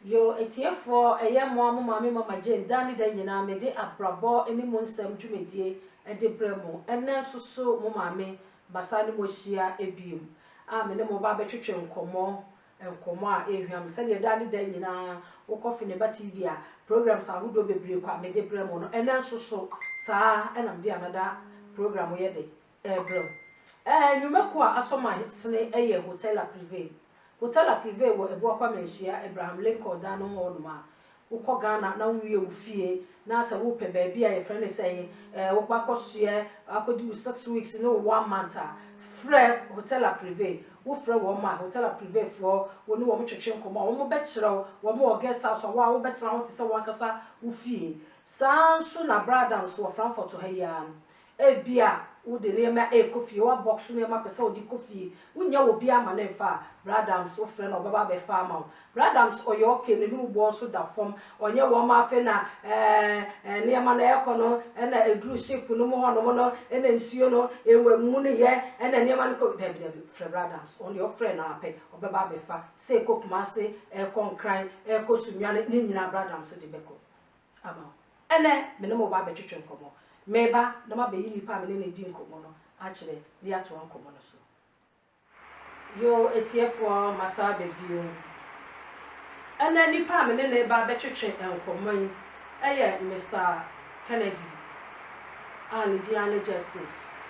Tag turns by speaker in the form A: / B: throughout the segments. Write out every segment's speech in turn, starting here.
A: Yo, atiefoɔ, ɛyɛ mmoa mo maame Mama Jane daa ne da nyinaa mede abrabɔ ne mu nsɛm dwumadie de brɛ mo. Ɛnnɛ nso so mo maame bɛsan ne mo ahyia biom a me ne mo ba bɛtwetwe nkɔmmɔ, nkɔmmɔ a ɛrehwam sɛdeɛ daa ne da nyinaa wokɔ Feneba TV a programs ahodoɔ bebree kwa mede brɛ mo no, ɛnnɛ nso so saa na mede another program yɛ dɛ Ɛrebrɛ wo. Ɛɛ, nnwuma kuo a asɔ ma sene yɛ Hotel La Privée. Hotel La Privée wɔ Abuakwa Manhyia, Abraham Lincoln dan no ho hɔ nom a, wokɔ Ghana na wowie wo fie na sɛ wopɛ baabi a yɛfrɛ no sɛ ɛhe, ɛɛ, wokɔ akɔsoɛ, akɔdi wo six weeks ne wo one month a, frɛ Hotel La Privée. Wofrɛ wɔn a, Hotel La Privée foɔ, wo ne wɔn twetwe nkɔmmɔ a, wɔn bɛkyerɛ wo, wɔn wɔ guest house a, wo a wobɛtena hɔ te sɛ w'ankasa wo fie. Saa ara nso na Bradans wɔ Frankfurt ha yi ara no, Ebia wode nneɛma rekɔ fie, woabɔk so nneɛma pɛ sɛ wode kɔ fie, wonnya wɔ biara ma no mfa a, Bra Adams wofrɛ no a ɔbɛba abɛfa ama wo. Bra Adams ɔyɛ okay, n'anum boɔ nso da fam, ɔnyɛ wɔn ma afei na ɛɛɛ nneɛma no ɛrekɔ no na ɛduru ship no mu hɔnom no na nsuo no ɛmmunuiɛ na nneɛma no kɔ, dabi dabi, frɛ Bra Adams, ɔno deɛ wofrɛ no ara pɛ ɔbɛba abɛfa, sɛ ɛrekɔ Kumasi, ɛrekɔ Nkran, ɛrekɔ Sunyani, ne nyinaa Bra Adams de bɛkɔ. ama wo. Ɛnnɛ, me ne mo reba abɛtwetwe nkɔmmɔ. Mereba na mabeyi nipa a me ne no redi nkɔmmɔ no akyerɛ de atoa nkɔmmɔ no so. Yo atiefoɔ, masan aba bio. Ɛnnɛ, nipa a me ne no reba abɛtwetwe nkɔmmɔ yi yɛ Mister Kennedy a ne din ara ne Justice.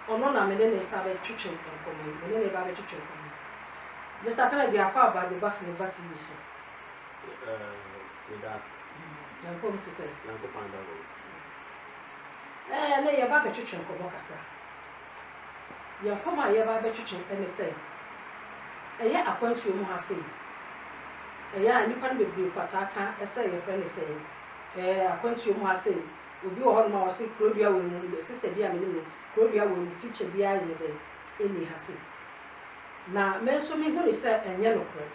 A: Ɔno na me ne no resa abɛtwetwe nkɔmmɔ yi, me ne no reba abɛtwetwe nkɔmmɔ yi. Mister Kennedy, akɔ aba de ba Fini Ba TV so.
B: Meda ase. Nyankopɔn bi te
A: sɛ.
B: Nyankopɔn ada hɔ. Ɛɛ
A: ɛnɛ yɛba abɛtwetwe nkɔmmɔ kakra. Yɛn nkɔmmɔ a yɛba abɛtwetwe ɛne sɛ ɛyɛ akwantuo mu ha sei. Ɛyɛ a nnipa no bebree kwataa ka ɛsɛ yɛfrɛ ne sɛ ɛɛ akwantuo mu ha sei. Obi wɔ hɔnom a ɔse kurodua wɔ mu no sister bi a menim no kurodua wɔ mu feature biara yɛ dɛ ɛni ha sei. Na me nso mehu ne sɛ ɛnyɛ nokorɛ.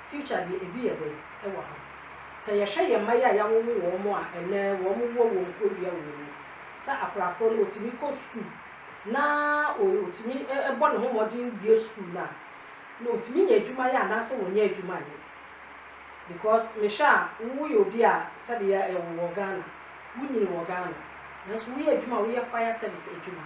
A: Future deɛ ebi yɛ dɛ wɔ ha. Sɛ yɛhwɛ yɛn mma yi a yɛawowo wɔn a ɛnnɛ wɔwɔ wɔn kurodua wɔ mu, sɛ akorakora no ɔtumi kɔ sukuu na ɔtumi bɔ ne ho mmɔden wie sukuu no a, na ɔtumi nya adwuma yɛ anaasɛ ɔnyɛ adwuma nyɛ. Because mehwɛ a woyɛ obi a sɛbe yɛ yɛwo wɔ Ghana, wonyini wɔ Ghana, nanso woyɛ adwuma a woyɛ fire service adwuma.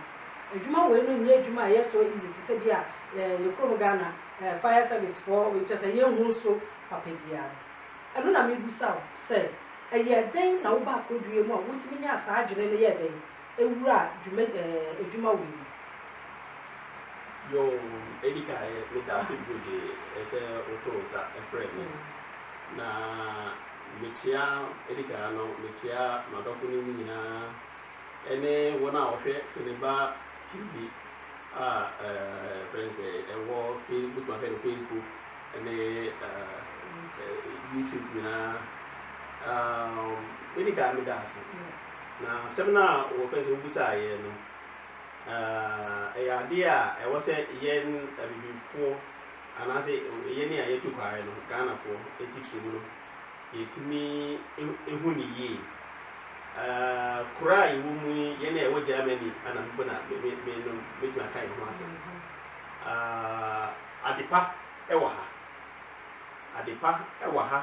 A: Adwuma wei no nyɛ adwuma a ɛyɛ so easy te sɛ bi a yɛn kurom Ghana ɛɛ fire service foɔ wei kyerɛ sɛ yɛn hu so papa biara no ɛno na me busa wo sɛ ɛyɛ dɛn na wo ba akodurie mu a wo tumi nyaa saa adwene no yɛɛ dɛn ɛwura dwuma ɛɛ adwuma wei mu.
B: Yoo edi kan yɛ me taa se bio de ɛsɛ wo to nsa ɛfrɛ me mm. na mekyia edi kan no mekyia madɔfo no mu nyinaa. ɛne wɔn a wɔhwɛ Feneba TV a ɛfrɛ no sɛ ɛwɔ Facebook ahwɛ no Facebook ɛne YouTube nyinaa medi kan meda ase na asɛm no a wɔfrɛ sɛ wobusaeɛ no ɛyɛ adeɛ a ɛwɔ sɛ yɛn abibifoɔ anaasɛ yɛne a yɛtu kwaeɛ no ghanafoɔ ɛtitiri mu no Yɛtumi hu no yie. Ahh kuro a yɛwɔ mu yi, yɛn a yɛwɔ Germany a na mpo na me me me no mɛtumi aka yɛn ho asɛm. Ahh ade pa wɔ ha. Ade pa wɔ ha.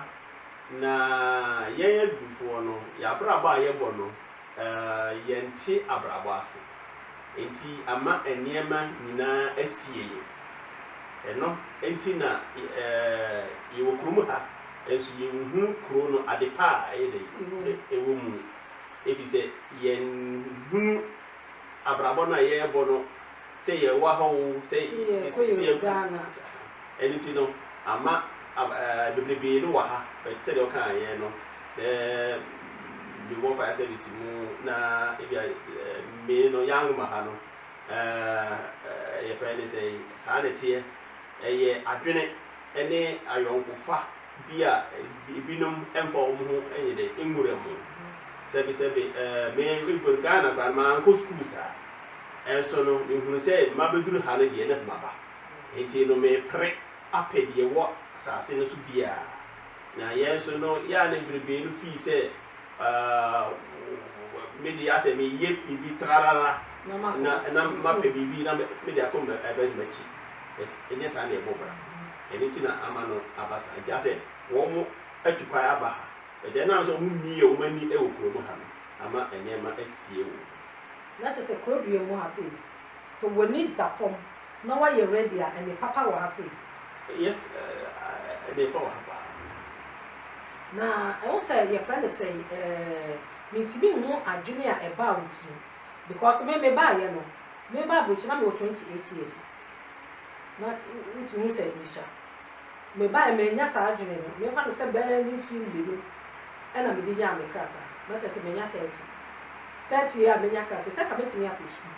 B: Na yɛn adufoɔ no, yɛn abrabɔ a yɛbɔ no, Yɛnte abrabɔ ase, enti ama nneɛma nyinaa asie yɛn. Ɛno nti na yɛwɔ kurom ha nso yɛnhu kuro no adepa a ɛyɛ dɛ sɛ ɛwɔ mu no, efisɛ yɛnhunu abrabɔ no a yɛrebɔ no. Sɛ yɛ wa hɔ oo, sɛ yɛ kɔ
A: ɛno nti no
B: ama bebrebee no wɔ ha but sɛdeɛ ɔka yɛ no sɛ mewɔ fire service mu na ebi a me no yɛ anwoma ha no yɛ fɛ ne sɛ saa na ɛteɛ ɛyɛ adwene ɛne ayɔnkofa bi a ebinom ɛmfa wɔn ho ɛnyɛ dɛ nwura mu sɛbi sɛbi me Ghana kora no maa nkɔ sukuu saa Nso no, mehunu sɛ mabɛduru ha no deɛ, na afei maba. Enti no, merepere apɛ deɛ ɛwɔ asase no so biara. Na yɛn nso no, yɛ a na bebree no fii sɛ, Aa, me deɛ asɛ meyɛ biribi trarara, na, na mapɛ biribi, na me, mede akɔ m'abarimaa akyi. But ɛnyɛ saa na ɛbɔ bra. Ɛno nti na ama no aba saa. Nti asɛ wɔn atu kwan aba ha. But ɛnam sɛ wɔn mmiee wɔn ani wɔ kurom ha no, ama nneɛma asie wɔ mu. Na kyɛ sɛ
A: kuro dua mu ha sei. Sɛ w'ani da fam na wayɛ ready a, ɛnne papa wɔ ha sei. Yes,
B: ɛnne pa wɔ ha
A: paa. Na ɛho sɛ yɛfrɛ no sɛn ɛɛ, mentumi nhu adwene a ɛbaa wo tirim. Because me, mebaeɛ no, meba aburokyire na mewɔ 28 years. Na wotumi hu sɛ mehyia. Mebae, manya saa adwene no, memfa no sɛ bɛyɛ ne mfe mmienu na mede nyaa me krataa, na kyerɛ sɛ manya thirty, thirty year a manya krataa, sɛ anka mɛtumi akɔ sukuu.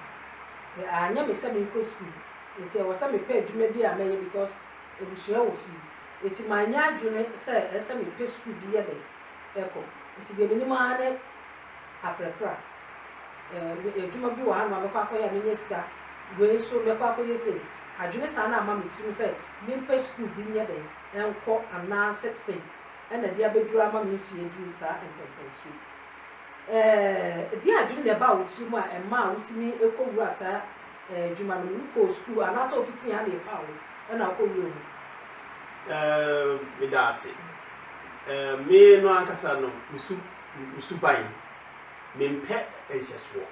A: But anyɛ me sɛ menkɔ sukuu, enti ɛwɔ sɛ mepɛ adwuma bi a mɛyɛ because abusua wɔ fie, enti manyɛ adwene sɛ ɛsɛ sɛ mepɛ sukuu bi yɛ dɛn kɔ, enti deɛ menim ara ne. apereperɛ a, eh, adwuma bi wɔ ha na mɛkɔ akɔyɛ a menya sika, wei nso mɛkɔ akɔyɛ sei. Adwene saa na ama me tirim sɛ mempɛ sukuu bi nyɛ dɛn nkɔ anaasɛ sei na ɛde abɛduru ama me mfeɛ aduru saa mpɛmpɛnsoɔ yi. Eh, ɛdeɛ adwene na ɛbaa wo tirim a ɛmaa wotumi kɔwura saa eh, adwuma no mu? Wokɔɔ sukuu anaasɛ wofitii ha na ɛfaa wo na wokɔwura mu? Eh,
B: meda ase. Eh, me no ankasa no, mesu. me suban. Mempɛ nhyɛsoɔ.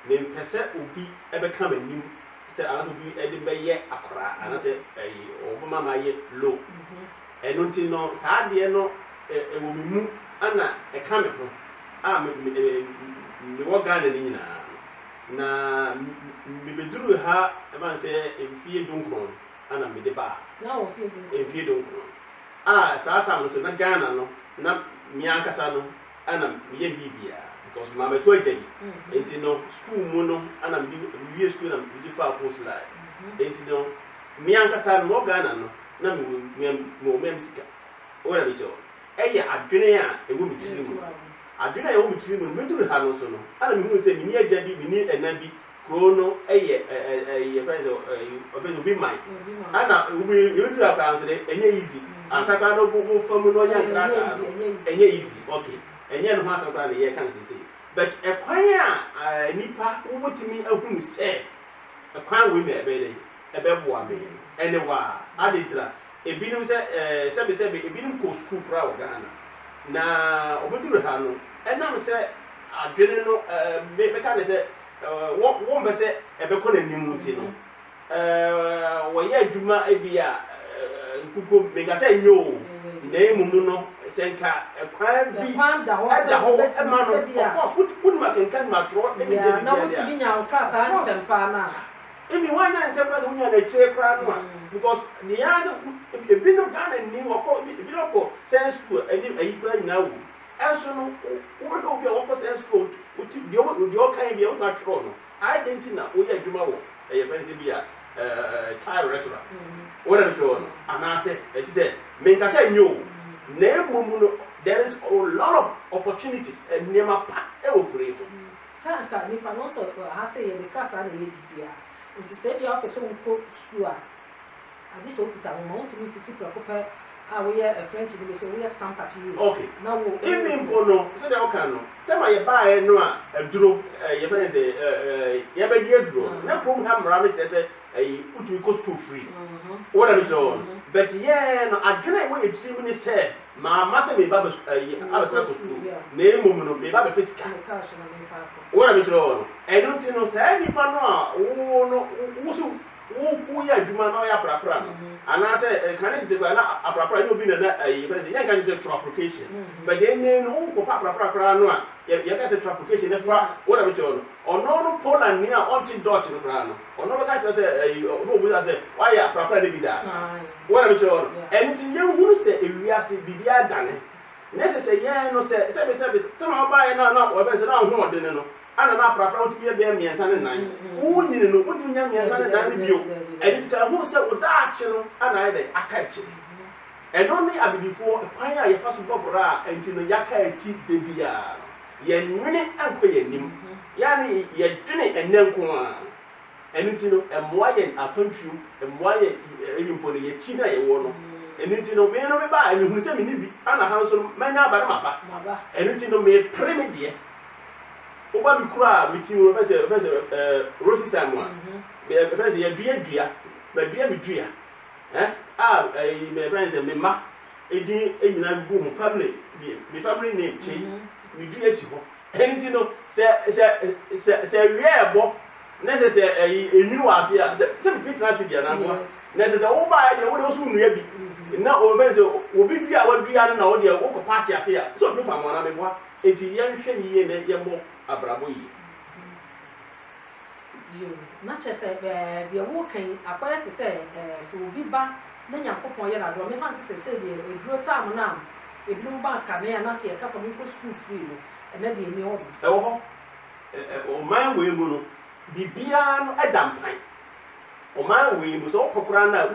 B: Mempɛ sɛ obi bɛka m'anim sɛ anaasɛ obi de me bɛyɛ akoraa anaasɛ ɛyi ɔbɛma m'ayɛ low. Ɛno nti no saa adeɛ no ɛwɔ me mu ana ɛka me ho a mewɔ Ghana no nyinaa na mebɛduru ha ɛbɛn sɛ mfie dunkron ana mede baa
A: mfie dunkron.
B: A, saa tam no nso na Ghana no na me ankasa no na meyɛ me biribiara because mabɛto agya bi nti no school mu no na mede mewie school na mede faa Fosu line nti no me ankasa no mewɔ Ghana no na mewɔ mewɔ mea me sika wo na mekyɛ wo ɛyɛ adwene a ɛwɔ me tiri mu adwene a ɛwɔ me tiri mu no meduru ha no nso no na mehunu sɛ menni agya bi menni ɛna bi Kuro no yɛ ɛ ɛ ɛ yɛfrɛ no sɛ ɛ ɔfrɛ no obi man ɛna obi yɛbɛduru ha koraa nso dɛ ɛnyɛ easy ansa koraa no wo fa mu na ɔnya nkrataa no ɛnyɛ easy ok ɛnyɛ ne ho asɛm koraa na yɛreka no seesei but ɛkwan a nipa wobɛtumi ahunu sɛ ɛkwan wei na ɛbɛyɛ dɛ ɛbɛboa me ɛne wa ade ntira ebinom sɛ ɛɛ sɛbesɛbe ebinom kɔ sukuu koraa wɔ Ghana na ɔbɛduru ha no ɛnam sɛ adwene no ɛɛ mɛka ne sɛ wɔmpɛ sɛ ɛbɛkɔ n'anim nti no, wɔyɛ adwuma bi a nkukuo menka sɛ nyɛ o, na mmom no sɛ nka kwan bi da hɔ
A: ɛma no
B: ɔkɔ wonim akenkan nim atwerɛ ɛne bɛ bi na wotumi nya wo
A: krataa ntɛm paa no a ebi woanya
B: ne ntɛm paa sɛ wonya n'akyire koraa no a because ne yɛa sɛ ebi no paa na ni ɔkɔ ebi no ɔkɔ science school ɛne ayi koraa nyinaa wɔ Nso no, wobɛhwɛ obi a wakɔ saa sukuu a wote deɛ ɔka yi bi a, wobɛtumi atwerɛ no. Adɛn nti na woyɛ adwuma wɔ ɛyɛ fɛn sɛ bi a Thai restaurant? Wona no twerɛ no? Anaasɛ ɛte sɛ, menka sɛ nyɛ o, na mmom no, there is a lot of opportunities, nneɛma pa wɔ kuro yi mu. Sɛ anka nnipa
A: no, nso wɔ ha sɛ yɛde krataa na ɛyɛ biribiara. Nti sɛ bi a wopɛ sɛ wokɔ sukuu a. Agye sɛ okuta wo ma wotumi fiti prɛko pɛ a woyɛ French no mese
B: woyɛ sans papier
A: Ok, na wo emi
B: mpo no sɛdeɛ woka no time a yɛbaeɛ no a aduro eh, yɛfrɛ no sɛ eh, eh, yɛbɛdi aduro no na kurom ha mmara no kyerɛ sɛ ɛyi wotumi kɔ sukuu free wo na mekyerɛ wɔn but yɛn no adwene a ɛwɔ yɛ tirim ne sɛ maama sɛ meba bɛ ɛyi abɛsena kɔ sukuu na mmom no meba bɛpɛ sika ne kaa so na mepa akɔ. wo na mekyerɛ wɔn no ɛno nti no saa nipa no a wo no wo so wo wo yɛ adwuma na ɔyɛ aprapra no anaasɛ ɛka ne tete koraa na aprapra nyɛ obi na na ɛyɛ fɛn sɛ yɛnka ne sɛ traplication but then ne no wo kɔpa aprapra koraa no a yɛka sɛ traplication ne fa wo na bɛkyɛ ɔno ɔno no pola ni a ɔnte dot no koraa no ɔno bɛka kyerɛ sɛ ɛyi ɔno obu sɛ wayɛ aprapra ne bi daa wo na bɛkyɛ ɔno ɛno ti yɛn hunu sɛ ewiase biribi adane ne sɛ sɛ yɛn no sɛ sɛ bɛ sɛ bɛ tɛm a ɔbaayɛ na na ɔbɛn sɛ na ahoɔden no Ana na aprapra wotumi yɛ bɛyɛ mmiɛnsa ne nan wonyini no wontumi nya mmiɛnsa ne nan no bio ɛno nti ka hu sɛ wo daakye no ana ayɛ dɛn aka akyiri ɛno ne abibifoɔ kwan a yɛfa so bɔ bra a ɛnti no yɛaka akyi da biara no yɛnwene nkɔ yɛn anim yɛane yɛdwene ɛnɛ nko a ɛno nti no ɛmmoa yɛn akwantuom ɛmmoa yɛn ɛbi mpo no yɛkyi no a yɛwɔ no ɛno nti no me no meba a mehunu sɛ menni bi ana ha nso no manya aba no maba ɛno nti no mepere me deɛ Woba mekura me ti mu ɛfɛ sɛ ɛfɛ sɛ ɛɛ Rosie san mu a mɛ ɛfɛ sɛ yɛdua dua mɛdua me dua ɛ a ɛyi mɛ ɛfɛ sɛ me ma edin enyina gu ho family me me family name kye me dua si hɔ ɛni ti no sɛ sɛ sɛ sɛ wiɛ ɛbɔ na sɛ sɛ ɛyi enwini wɔ ase a sɛ sɛ bibi tena ase bi anankoa na sɛ sɛ woba ayɛ deɛ wo deɛ wosu nnua bi na wɔfɛ sɛ obi dua a wadua no na wo deɛ wokɔ paakye ase a sɛ obi pa mo anaa meboa Enti yɛnhwɛ yiye na yɛmmɔ abrabɔ yiye.
A: Yiw, na kyerɛ sɛ deɛ woreka yi akɔyɛ te sɛ sɛ obi ba na Nyankopɔn yɛ no adom a, mefa no sɛ seesei deɛ aduro time no a ebinom ba kane a na anka yɛka sɛ monkɔ sukuu free no, ɛnnɛ deɛ enni hɔ bi. Ɛwɔ hɔ.
B: Ɔman wei mu no, biribiara no da mpan. Ɔman wei mu, sɛ wokɔ koraa no a,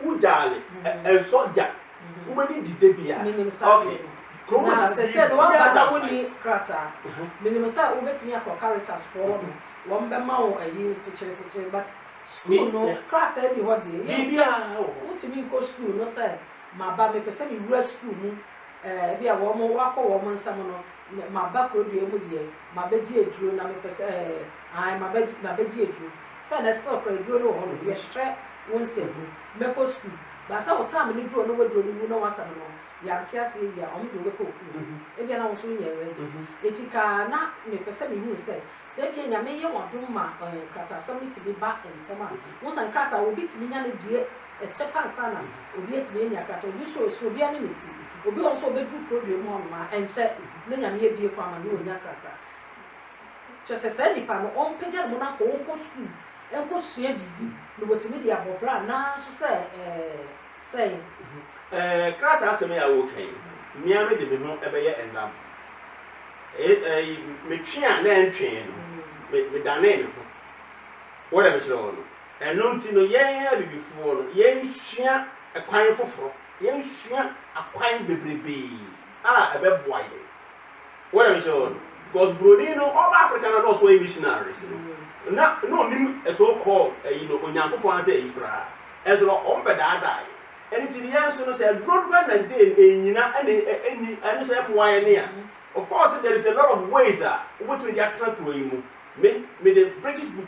B: wogyaale, ɛnsɔ da. Wobɛdi di da biara? Menim saa adeɛ no.
A: Kurom na ɛsɛ sɛ na waba na wonni krataa. Menim sɛ wobɛtumi akɔ Caritas foɔ hɔ nom, wɔbɛma wo ayi fokyere fokyere but sukuu no krataa nni hɔ deɛ yɛ. Biribiara wɔ hɔ.
B: Wotumi nkɔ
A: sukuu no sɛ maba mepɛ sɛ mewura sukuu mu eh, ebi a wɔn wakɔ wɔn nsam no maba kurodua mu deɛ mabɛdi aduro na mepɛ sɛ eh, ae mabɛdi aduro sɛ na still kora aduro no wɔ hɔ no yɛhwɛ wo nsɛm mu Mɛkɔ sukuu. Ba sɛ wo tam no duro na waduro no wu na wasa no no, yɛante aseɛ yie a, ɔno deɛ wobɛkɔ okunu hɔ. Ebia na wo nso wonyɛ ready. Eti ka na mepɛ sɛ mehunu sɛ, sɛ ebia Nyame yɛ w'adom ma eh, nkrataasɛm no tumi ba ntɛm a. Wohu sɛ nkrataa, obi tumi nya no die ɛkyɛ pa ansa na obi atumi anya krataa. Obi nso ɛso, obiara ne ne ti. Obi wɔ hɔ nso a ɔbɛduru kuro dua mu hɔnom a, ɛnkyɛ na Nyame abue kwan ma no ɔnya krataa. Kyerɛ sɛ, saa nipa no, ɔmpagya ne ho no ankɔ, ɔnkɔ sukuu. nkosua biribi na wɔtumi de abɔ bra nanso sɛ sɛn? Ɛɛ,
B: krataa asɛm yi a woreka yi, me ara mede me ho bɛyɛ example. Ɛɛ, metwe a na ɛntwee no, medanee me ho. Wɔ dɛ mekyerɛ wo no. Ɛno nti no, yɛn Abibifoɔ no, yɛnsua kwan foforɔ, yɛnsua akwan bebrebee a ɛbɛboa yɛn. Wonim nso no, because Broni no ɔba Africa na na ɔso ɔyɛ missionaries no, na na onim ɛso kɔ ɛyi no Onyankopɔn ara sɛ ɛyi koraa, ɛso no wɔn bɛdaadaa yɛ. Ɛno ti no yɛn nso no sɛ aduro no bɛn na sɛ ɛnyina ɛna ɛni ɛno nso ɛmoa yɛn ne a. Of course there is a lot of ways a wobɛtumi de atena kuro yi mu. Me, mede British book.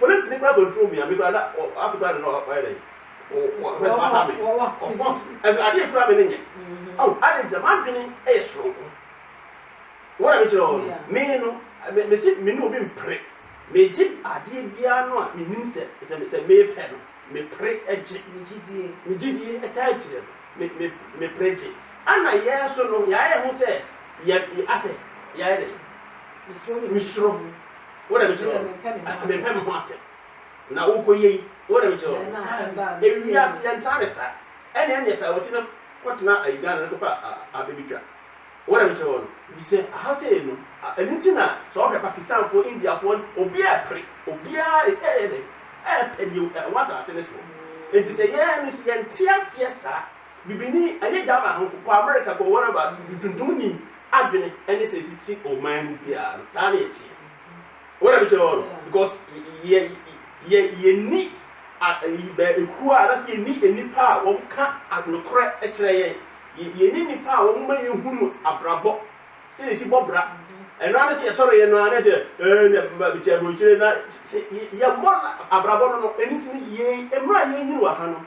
B: Polisini koraa control me a me koraa na afi koraa ne no ɔyɛ dɛ o o pɛ sɛ ɔha me of course ɛsɛ adeɛ kura me ne nyɛ awo adi nti na maa dwene ɛyɛ soronko wɔn a mi kyerɛ wɔn no me no me me si me ne obi mpere me gye adeɛ biara no a me nim sɛ sɛ sɛ me pɛ no me pere ɛgye me gyidie ɛka akyire no me me me pere gye ɛna yɛn nso no yɛayɛ ho sɛ yɛ asɛ yɛayɛ dɛ me soro. Wo na mekyerɛ wɔn. Mempɛ me ho asɛm. Na wokɔ yie yi, wo na mekyerɛ wɔn. Ewi ase yɛn ntaa ne saa. Ɛne ɛne saa wɔkyi no kɔtena ayi Ghana no kɔpɛ abɛbitwa. Wo na mekyerɛ wɔn. Bisɛ aha sɛ yɛ no. Ɛnu ti na sɛ wɔhwɛ Pakistanfoɔ, Indiafoɔ, obiara ɛpere. Obiara ɛyɛ dɛ ɛpɛ deɛ ɛwɔ asase no soɔ. Nti sɛ yɛn no sɛ yɛn te aseɛ saa. Bibini ɛne Ghana ho kɔ America kɔ wherever de tuntumni adwene ɛne sɛ ɛfiti ɔman mu biara no saa na ɛteɛ wɔ na mekyerɛ wɔ no because yɛ yɛ yɛni ɛkuo a anasɛ yɛni nnipa a wɔn ka anokorɛ ɛkyerɛ yɛn yɛni nnipa a wɔn ma yɛn hunu abrabɔ sɛ na ɛsi bɔ bra ɛno ara sɛ yɛsɔre yɛn no ara sɛ ɛɛ na mekyɛ aburokyire na yɛmmɔ abrabɔ no no ɛno ti no yɛn mmerɛ a yɛnyini wɔ ha no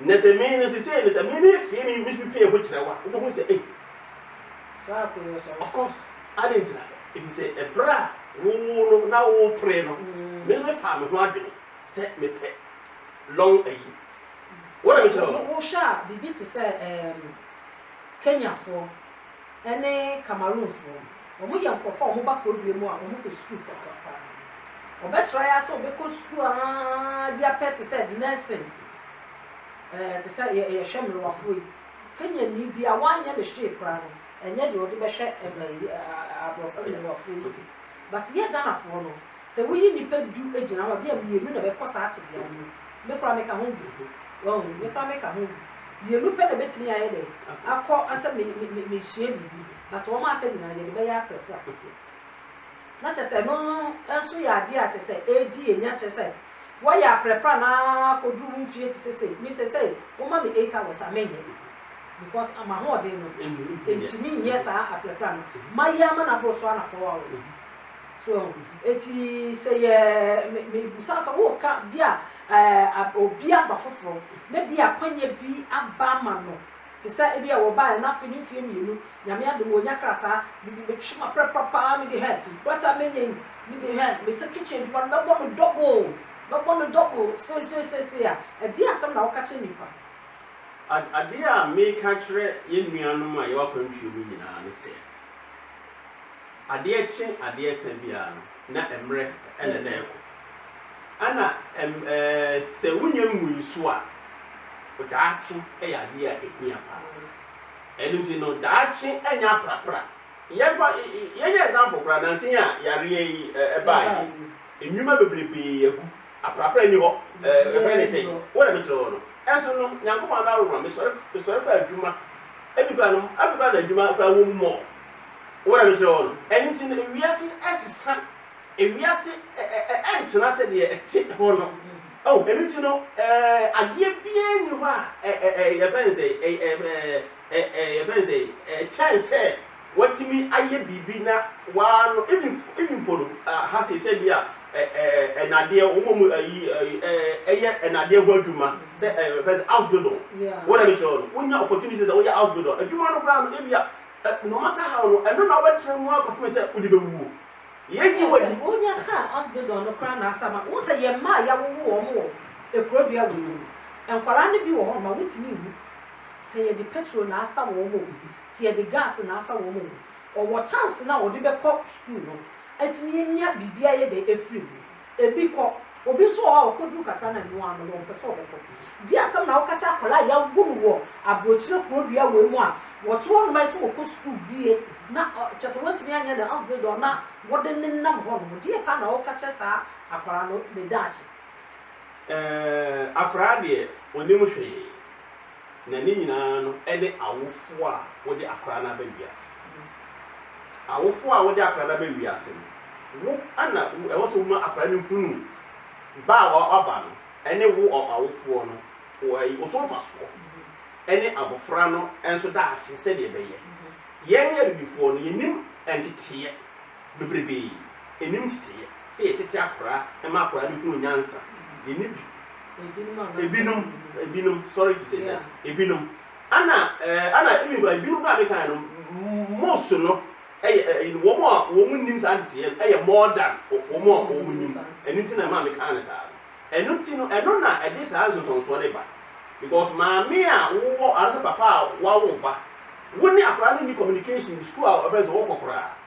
B: Na sɛ me no sesei no sɛ me me fee me me me pie ho kyerɛ wo a wobɛhu sɛ ei Saa akoe no sɛ of course adɛn nti na ɛfiri sɛ ɛberɛ a wo wo no na wo pere no me nso me faa me ho adwene sɛ me pɛ long ayi wo na me kyerɛ wo no. Wo hwɛ a biribi te
A: sɛ ɛɛm Kenyafoɔ. ne Cameroonfoɔ no, wɔyɛ nkorɔfoɔ a wɔba Kodoe mu a wɔkɔ sukuu kakra pa ara. Wɔbɛtra yi ara sɛ wɔbɛkɔ sukuu ara de apɛ te sɛ nursing, ɛɛ te sɛ yɛ yɛhwɛ mmerewafoɔ yi. Kenyani bi a wanyɛ ne hwee koraa no, ɛnyɛ deɛ ɔde bɛhwɛ ɛɛ ɛɛ aborɔfo mmerewafoɔ yi bi. But yɛ Ghanafoɔ no, Sɛ woyi nnipa du gyina hɔ a, ebia mmienu na ɛbɛkɔ saa tebea no mu. Me koraa meka ho bi. Wahu? Me koraa meka ho bi. Mmienu pɛ na ɛbɛtumi ayɛ dɛn? Akɔ sɛ me, me, me, mesua biribi. But wɔn a aka nyinaa, yɛde bɛyɛ aprɛprɛ a. Na kyerɛ sɛ ɛno no nso yɛ adeɛ a kyerɛ sɛ ɛredi yɛn nya kyerɛ sɛ wɔyɛ aprɛprɛ a na akɔduru wo mfie te sɛ sei. Me sɛ sɛ woma me eight hours a menyɛ because m'ahoɔden no ɛntumi nyɛ saa aprɛprɛ a no mayɛ ama no aboro so ara na four hours. So eti sɛ yɛ me mebisa sɛ woka bi a ɛɛ obi aba foforɔ na bi a kwanya bi aba ama no te sɛ ebi a wɔbaeɛ na afei ne mfeɛ mmienu nyame adom wɔnya krataa mede bɛtwam aprɛprɛ paa mede hɛ bata menya yi mede hɛ mesɛ kitchen adwuma no bɛbɔ no double bɛbɔ no double seeseesei a ɛdeɛ asɛm na woka kyerɛ nipa. Ad
B: adeɛ a meka kyerɛ yɛn nuanom a yɛwɔ akwantuo mu nyinaa ne sɛ. Adeɛ kye adeɛ sa biara no, na mmerɛ na na ɛrekɔ. Ɛna ɛm ɛɛ sɛ wonnya ngui nso a, daakye yɛ adeɛ a ɛhia pa ara. Ɛno nti no, daakye nyɛ aprapra. Yɛmfa y y yɛnyɛ example koraa, nansa yi a yareɛ yi ɛ ɛbaeɛ yi, nnwuma bebrebee agu. Aprapra nni hɔ. Ɛ yɛfrɛ no sɛn? Wo na mekyerɛ wo no. Ɛnso no, Nyankopɔn adom a mesɔre mesɔre kɔɔ adwuma. Ebi koraa no, afei koraa na adwuma koraa wɔ mu more. Wɔn a mesrɛ wɔn no. Ɛno nti no, wiase sesa, wiase ntena sɛdeɛ ɛte hɔ no. Oh, ɛno nti no, adeɛ biara nni hɔ a yɛfrɛ no sɛ, yɛfrɛ no sɛ, kyɛn sɛ watumi ayɛ biribi na waa no, even even mpo no, ha sei sɛ bi a nnadeɛ, wɔn mu ayi ɛyɛ nnadeɛ ho adwuma sɛ yɛfrɛ sɛ Ausbildung. Wɔn a mesrɛ wɔn no, wonya opportunity sɛ woyɛ Ausbildung adwuma no koraa no, ebi a Eh, no matter how no, ɛno na wobɛtena mu ara kɔpem sɛ wode bɛwuo. Yɛnyi wo adi. Wonya kaa Osbildon
A: no koraa na asɛm a, wohu sɛ yɛn mma a yɛawowo wɔn wɔ kuro dua wei mu no, nkwadaa no bi wɔ hɔnom a wontumi nwu. Sɛ yɛde petrol na asa wɔn o, sɛ yɛde gas na asa wɔn o, wɔwɔ chance no a wɔde bɛkɔ sukuu no, atumi anya biribi a ɛyɛ dɛ afiri mu. Ebi kɔ. Obi nso wɔ hɔ a ɔkɔduru kakra na ɛno ara no, wɔmpɛ sɛ ɔbɛkɔ. Di asɛm na woka kyerɛ akwadaa a yɛawo no wɔ aburokyire kuro dua wei mu a wɔto hɔ noma yi sɛ ɔkɔ sukuu wie na ɔ, kyerɛ sɛ wantumi anyɛ ne Asbl na wode no nam hɔ nom. Deɛ paa na woka kyerɛ saa akwadaa no ne daakye? Ɛɛ,
B: akwadaa deɛ ɔnnim hwee. na ne nyinaa no ne awofo a wode akwadaa no aba wiase. Awofo a wode akwadaa no aba wiase no, wo na ɛwɔ sɛ woma akwadaa no hunu ba a waba no ne wo awofoɔ no wɔ so mfasoɔ ne abɔfra no nso daakye sɛdeɛ ɛbɛyɛ. Yɛn abibifoɔ no, yɛnim nteteeɛ. bebrebe nnim nteteyɛ. Sɛ yɛtete akora ma akora no hunu nyansa, yɛnni bi. Ebinom, ebinom, sorry to say that, ebinom, ana, eh, ana, ebi nkura, ebinom kura mi kan no, most no, ɛyɛ, eh, eh, wɔn a wɔn nnim saa nteteyɛ no, ɛyɛ more than wɔn a wɔn nnim. Ɛno nti na ɛma mi kan no saa. Ɛno nti no, ɛno na ɛde saa nsonsonsoɔ no ba. Because maame a wowɔ, anaa papa a wawo ba, wo ne akora no ni communication, school a ɔbɛn sɛ wɔkɔ koraa.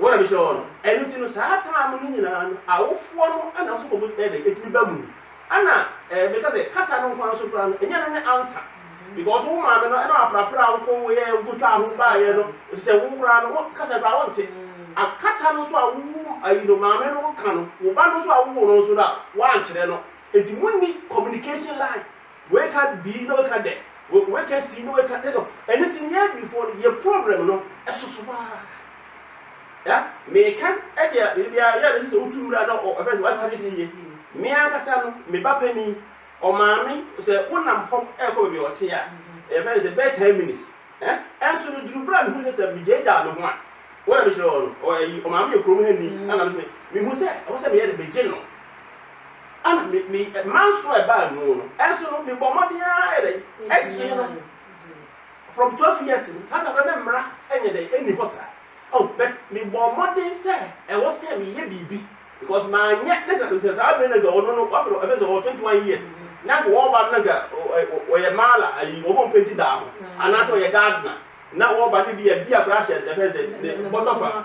B: Wɔn na mehyira wɔn. Ɛno nti no, saa tam no nyinaa no, awofoɔ no na wɔsɔ wɔn mu dɛ, ɛtumi ba mu. Ɛna eh, meka sɛ, kasa no nko ara so koraa no, ɛnyɛ no ne ansa. Because wo maame no, ɛna waprapra a wokɔ woyɛ, wokɔtwaa ho baayɛ no, ɛti sɛ wo koraa no, wo kasa koraa wonte. Akasa no nso a wowu, ayi no, maame no ka no, wo ba no nso a wowo no nso no a, woankyerɛ no. Ɛti monni communication line. Weka bii na weka dɛ, weka sii na weka dɛ. Ɛno nti no yɛn Abibifoɔ no yɛn problem no ɛsoso paa. Ya meka ɛdeɛ biribiara yɛ a na ɛsɛ sɛ wotu mmira na ɛfɛ sɛ wakyerɛ sie. Me ankasa no me ba panin ɔmaame sɛ wonam fam ɛrekɔ baabi a ɔte a ɛfɛ sɛ bɛyɛ ten minutes. Ɛnso no duru berɛ a mehu sɛ sɛ megyaagyaa me ho a wɔn a mekyerɛ wɔn no ɔmaame yɛ kurom ha ni ɛna mehu sɛ ɛwɔ sɛ meyɛ dɛ megye no. Ana me me manso a ɛbaa mu no nso no mebɔ mmɔden ara yɛ dɛn ɛgye no from twelve years no saa taberɛ no mmra ɛnyɛ dɛn ɛnni hɔ saa oh but mebɔ mmɔden sɛ ɛwɔ sɛ meyɛ biribi because manyɛ ne sɛ sɛ saa bere no nka ɔno no wafɛ no ɛfɛ sɛ ɔwɔ twenty one years na nka wɔba no na nka ɔyɛ maala ayi wɔn a mpɛnti daa ho anaasɛ ɔyɛ gardener na wɔba no bi a bi akora ahyɛ ɛfɛ sɛ bɔtɔfa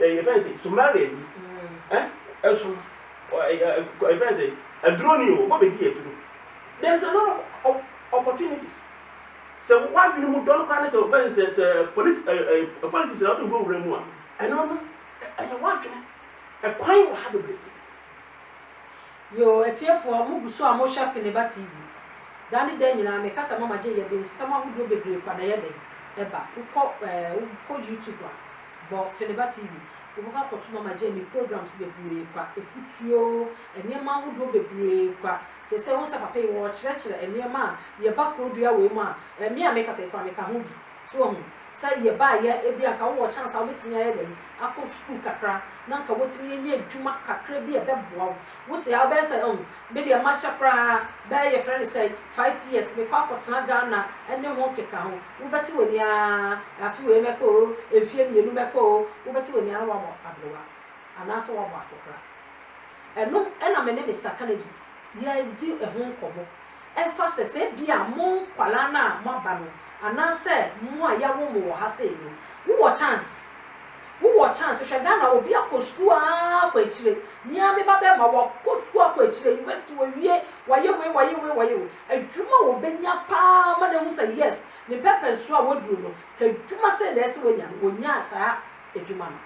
B: eh, yɛfrɛ no sɛ somalia bi eh, ɛso eh, eh, yɛfrɛ no sɛ aduro ni o wɔbɛdi aduro there is a lot of opportunities sɛ wadwene mu dɔn koraa ne sɛ wɔbɛn sɛ sɛ politi ɛɛ eh, eh, politics na wɔde wurawura mu a ɛno no ɛyɛ wadwene ɛkwan wɔ ha bebree.
A: yoo atiefoɔ mo gu so a mohwɛ Feneba TV daa ne daa nyinaa mekasa mama gye yɛde nsɛm ahodoɔ bebree kwa na yɛde ɛba wokɔ ɛɛ wokɔ YouTube a bɔ Feliba TV, wobɔkɔ akɔto Mama Jamie programs bebree kwa, efutuo, nneɛma ahodoɔ bebree kwa. Seesei wohu sɛ papa yi ɔɔkyerɛkyerɛ nneɛma a yɛba kuro dua wei mu a, ɛɛ me a mekasa yi koraa meka ho bi. So wahu? Sɛ yɛbaayɛ ebi a nka wowɔ chance a wobɛtumi ayɛ dɛn akɔ sukuu kakra na nka watumi anya adwuma kakra bi a ɛbɛboa wo. Wote a wobɛyɛ sɛ umm Me deɛ makyɛ koraa bɛyɛ yɛfrɛ no sɛn five years mekɔ akɔtena Ghana ne ho nkeka ho wobɛte w'ani aa afe wei mɛkɔ oo mfie mmienu mɛkɔ oo wobɛte w'ani aa na wabɔ abrewa anaasɛ wabɔ akokora ɛno na me ne Mister Kennedy yɛdi ho nkɔmmɔ ɛfa sɛ sɛ bia mo nkwadaa no a moaba no anaasɛ mo a yɛawo mo wɔ ha sei no wowɔ chance Wo wɔ chance hwɛ Ghana obi akɔ sukuu aa kɔ akyire me aa me ba bɛɛma wa kɔ sukuu akɔ akyire university wa wie wa yɛ wei wa yɛ wei wa yɛ wei adwuma wɔ bɛ nya paa ma na hu sɛ yes ne purpose so a wa duru no ka adwuma sɛɛ na ɛsɛ wa nya no wɔ nyaa saa adwuma no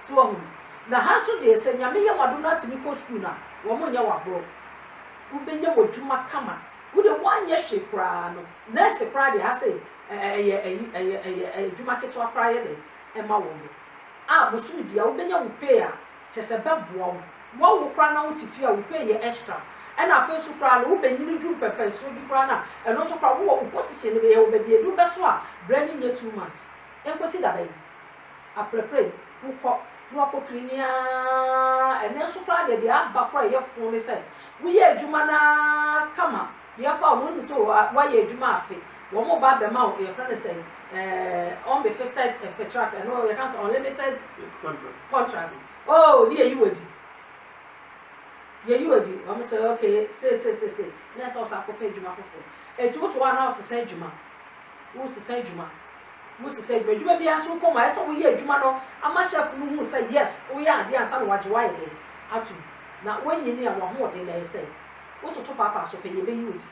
A: so wa hu na ha nso deɛ sɛ nyame yɛ wa do no atumi kɔ sukuu na wɔ mo nyɛ wa borɔ wo bɛ nya wɔ adwuma kama wo deɛ wa nyɛ hwee koraa no nurse koraa deɛ ha sɛ ɛ ɛ ɛyɛ ɛyi ɛyɛ ɛyɛ ɛ adwuma ketewa koraa yɛ dɛn ɛma wɔn mo a bosome bia wobɛnya wo pay a kyɛsɛ bɛboa wo boa wo koraa na wote fie a wo pay yɛ extra ɛna afei so koraa no wobɛnyini du mpɛmpɛnsoɔ bi koraa no a ɛno nso koraa wowɔ wo position no bɛyɛ wo baabi ɛduru bɛto a brɛ no nyɛ too much ɛnkɔsi dabɛn aprɛprɛ yi wokɔ na wakɔ clean aa ɛnɛ nso koraa deɛ deɛ aba koraa ɛyɛ fo ne sɛ woyɛ adwuma no aa kama Yɛfa wo hu sɛ woayɛ adwuma afe, wɔn ba bɛma wo yɛfrɛ no sɛ ɛɛ unbefisted fetrak ɛno yɛka no sɛ unlimited contract oh ne yɛyi wɔ di yɛyi wɔ di wɔn sɛ ok seesesese na ɛsɛ ɔsɛ akɔpɛ adwuma foforɔ eti woto hɔ a na ɔsesa adwuma wosesa adwuma wosesa adwuma adwuma bi aso kɔm a ɛsɛ woyɛ adwuma no ama chef no hu sɛ yes woyɛ adeɛ ansa na wagye wayɛ dɛ atum na wɔnyini a wɔn ahoɔden na ɛsɛ. Wototo paapaa so pɛ, yebeyi wo adi.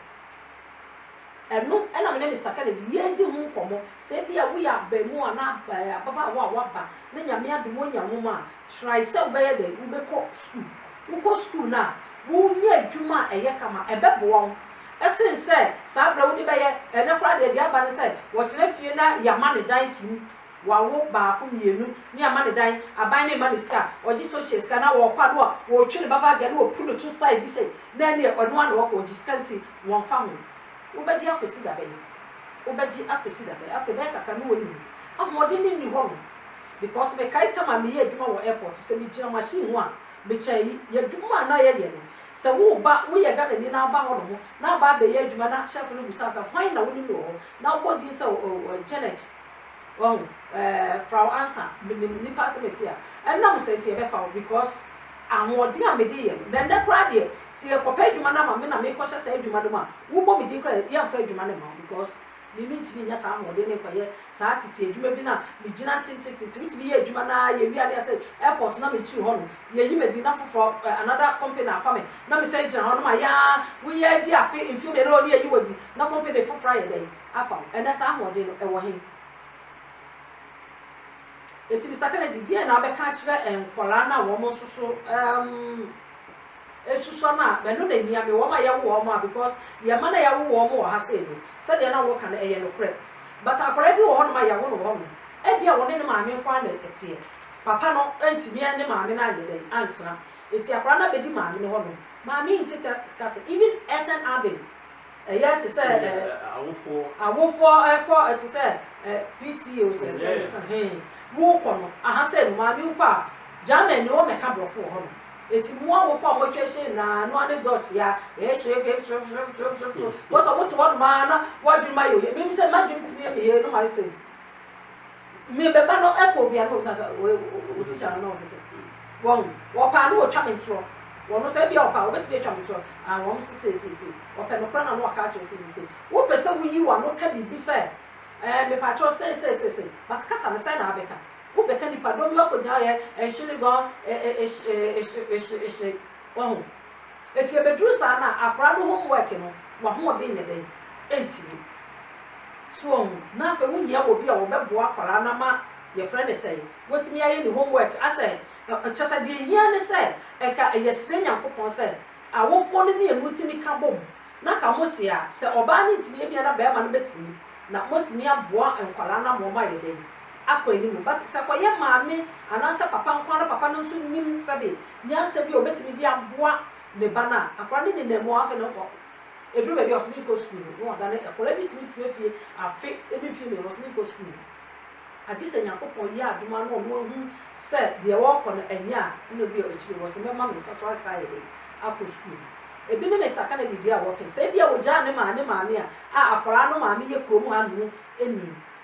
A: Ɛno na me ne Mister Kennedy yɛredi ho nkɔmmɔ. Sɛ ebia woyɛ abarimaa anaa ababaawa a woaba na Nyame adom woanya nwom a, try sɛ wobɛyɛ dɛn? Wobɛkɔ sukuu. Wokɔ sukuu no a, wunya adwuma a ɛyɛ kama. Ɛbɛboa wo sen sɛ saa bere a wode bɛyɛ. Ɛnnɛ koraa deɛ, deɛ aba ne sɛ wɔtena fie na yɛama no dan tim. Wawo baako mienu ne ama ne dan aban ne mma ne sika ɔgye social sika na ɔɔkɔ a na ɔɔtwe ne ba vagya na ɔpu no to style bi sɛ na ɛneɛ ɔno ara na ɔɔkɔ ɔgye sika nti wɔnfa ho. Wobɛgye akɔsi dabɛn? Wobɛgye akɔsi dabɛn? Afei bɛyɛ kakra na w'anini. Ahoɔden no nni hɔ nom because mekae tam a meyɛ adwuma wɔ airport sɛ megyina machine ho a mekyɛ ayi y'adwuma a na yɛyɛ no sɛ woba woyɛ Ghanani na woba hɔ nom na aba abɛyɛ adwuma na chef no busa wo sɛ hwan na wonim no wɔ hɔ na wobɔ din sɛ oh Janet Wahu? Ɛɛ, fra wo ansa. Menim nnipa sɛ masi a, ɛnam saa nti ɛbɛfa wo because ahoɔden a mede yɛ no, na nnɛ koraa deɛ, sɛ yɛkɔpɛ adwuma no ama me na mekɔhyɛ saa adwuma no mu a, wobɔ me din koraa a, yɛmfa adwuma no mma wo because me mentumi nnya saa ahoɔden no nkɔyɛ saa tete adwuma bi no a megyina tentetete. Wotumi yɛ adwuma no ara, yɛwie a na yɛsɛ airport na mekyiri hɔ no, yɛyi me din na foforɔ, another company afa me na mesan gyina hɔ no ma yɛn ara, woyɛ adi afe, mfeɛ mmienu o, na yɛyi wo adi na company foforɔ ayɛ dɛn? afa ho. Ɛnnɛ, saa ahoɔden no, ɛwɔ he? Enti Mister Kennedy, deɛn na wobɛka akyerɛ nkwadaa no a wɔn nso so um, esusua no a mɛno na ehia me, wɔn a yɛwo wɔn a because yɛn mma no a yɛawo wɔn wɔ ha sei no, sɛdeɛ na wɔka no ɛyɛ nokorɛ. But akwadaa bi wɔ hɔnom a yɛawo no wɔ hɔnom, ebia wɔne ne maame nko ara na ɛteɛ. Papa no ntumi ne maame no anyɛ dɛn antena. Enti akwadaa no abɛdi maame no hɔnom. Maame nte ka, ka sɛ even earthen abent. Ɛyɛ te sɛ ɛ awofoɔ awofoɔ ɛkɔ te sɛ ɛ PTA o sɛ sɛ hɛn mo kɔ no aha sɛ no maame wokɔ a German ne wɔn mɛka borɔfo wɔ hɔ no eti mo awofo a wɔatwa ahyia nyinaa no ane dɔt ya ɛyɛ hyɛ ɛbɛ ɛbɛtwerɛ twerɛ twerɛ twerɛ twerɛ wɔsɛ wɔte hɔ nom ara na wɔadwene ma yɛ oyɛ mmom sɛ m'adwene tumi ɛmɛ yɛ no ma ɛsɛ Me ba ba no ɛkɔ obi a na ɔtena sɛ wei wo tikya no na ɔsɛ sɛ wɔn wɔpaa no wɔtwa me ntorɔ wɔn sɛ ebi a wɔpaa wɔbɛtumi atwa me ntorɔ a wɔn sɛ sɛ sɛ sɛ wɔpɛ no kora na no ɔka akyerɛ sɛ sɛ sɛ wopɛ sɛ woyi wɔn ano ka biribi sɛ ɛɛ mepa akyerɛ sɛ sɛ sɛ sɛ but kasa no sɛ na abɛka wobɛka nipa dɔm yɛ ɔkɔgyina yɛ ɛnhyene gɔn ɛhyɛ ɛhyɛ ɛhyɛ wɔn ho Enti ebeduru saa no a, akora no home work no, w'ahoɔden nyɛ dɛn? Entumi. So wahu? Na afei wohia obi a ɔbɛboa akwadaa no ama, yɛfrɛ no sɛn, watumi ayɛ ne home work asɛ, ɛ, kyerɛ sɛ deɛ ehia ne sɛ ɛka ɛyɛ srɛ Nyankopɔn sɛ awofoɔ no mmienu ntumi ka bom na ka mote a, sɛ ɔbaa no ntumi a, ebia na barima no bɛtumi, na moatumi aboa nkwadaa no ama wɔayɛ dɛn? Akɔ anim. But sɛ ɛkɔyɛ maame anaasɛ papa nko ara na papa no nso nnim sɛdeɛ. nyansa bi a obetumi de aboa ne ba no a, akwadaa no nenam mu a, afei na ɔkɔ, eduru baabi a ɔse menkɔ sukuu no, na ɔdane kɔ. Akwadaa bi tumi tena fie afe ne mfeɛ mmienu, ɔse menkɔ sukuu no. Agye sɛ Nyankopɔn yɛ adom ara na ɔno ahu sɛ deɛ ɔɔkɔ no ɛnyɛ a, nna bi a akyire no ɔse mɛma me nsa so ayɛ saa ayɛ dɛn akɔ sukuu no. Ebi ne Mister Kennedy deɛ a wɔɔkɛ sɛ ebia ɔgyaa ne maa ne maame a, a akwadaa no maame yɛ kurom ha nom ni.